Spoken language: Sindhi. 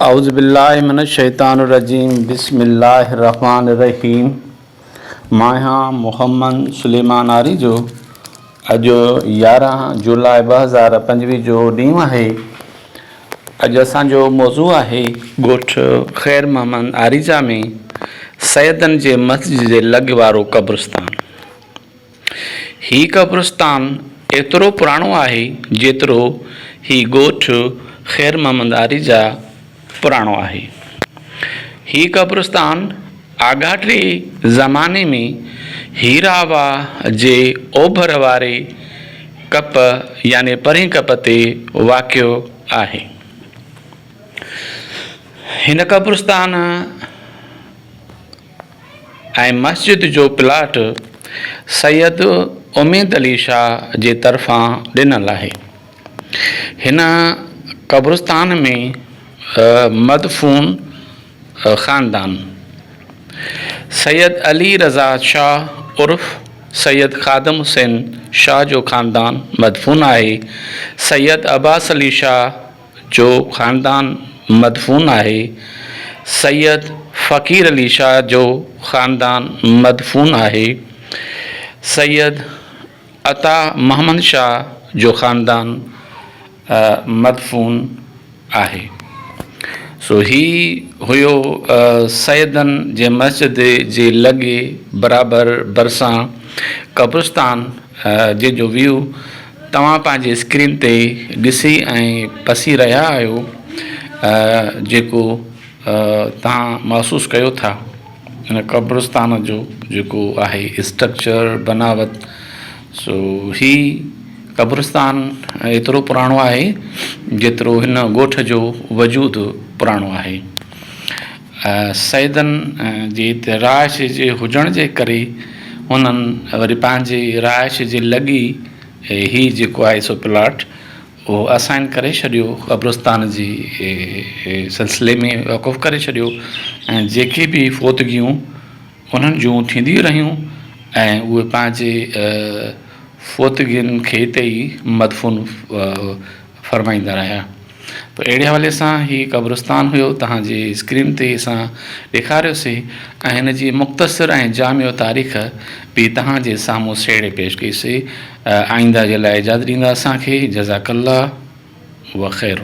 اعوذ بالله من الشيطان الرجيم بسم الله الرحمٰن الرحيم ماهيان محمد سليمان آريجو اڄ يارهن جولاء ٻه هزار پنجويهه جو ڏينهن آهي اڄ اسان جو موضوع آهي ڳوٺ خير محمد آريجا ۾ سيدن جي مسجد جي لڳ وارو قبرستان هي قبرستان ايترو پراڻو آهي جيترو هي ڳوٺ خير محمد آري جا پراڻو آهي. هي قبرستان آڳاٽي زماني ۾ هيرا واهه جي اوڀر واري ڪپ يعني پرين ڪپ تي واقع آهي. هن قبرستان. ۽ مسجد جو پلاٽ سيد اميد علي شاهه جي طرفان ڏنل آهي. هن قبرستان ۾ مدفون خاندان سيد علي رضا شاهه عرف سيد خادم حسين شاهه جو خاندان مدفون آهي. سيد عباس علي شاهه، جو خاندان مدفون آهي، سيد فقير علي شاهه جو خاندان مدفون آهي، سيد عطا محمد شاهه جو خاندان مدفون آهي. سو هي هيو سيدن جي مسجد جي لڳي برابر ڀرسان قبرستان جنهن جو ويو توهان پنهنجي اسڪرين تي ڏسي ۽ پسي رهيا آهيو جيڪو توهان محسوس ڪيو ٿا ان قبرستان جو جيڪو آهي اسٽرڪچر بناوت سو هي قبرستان ايترو پراڻو آهي جيترو هن ڳوٺ جو وجود پراڻو آهي سيدن جي هتي رهائش جي هجڻ جي ڪري هنن وري پنهنجي رهائش جي لڳي هي جيڪو آهي سو پلاٽ اهو اسائين ڪري ڇڏيو قبرستان جي سلسلي ۾ وقف ڪري ڇڏيو ۽ جيڪي به فوتگيون انهن جون ٿينديون رهيون ۽ اهي پنهنجي فوتگين کي هتي ئي مدفون فرمائيندا رهيا ته اهڙي حوالي سان هي قبرستان هيو توهان جي اسڪرين تي اسان ڏيکاريو سي ۽ هن جي مختصر ۽ جامع تاريخ به توهان جي سامهون سهيڙي پيش ڪئي سي آئينده جي لاء اجازت ڏيندا اسان کي جزاڪ الله و خير.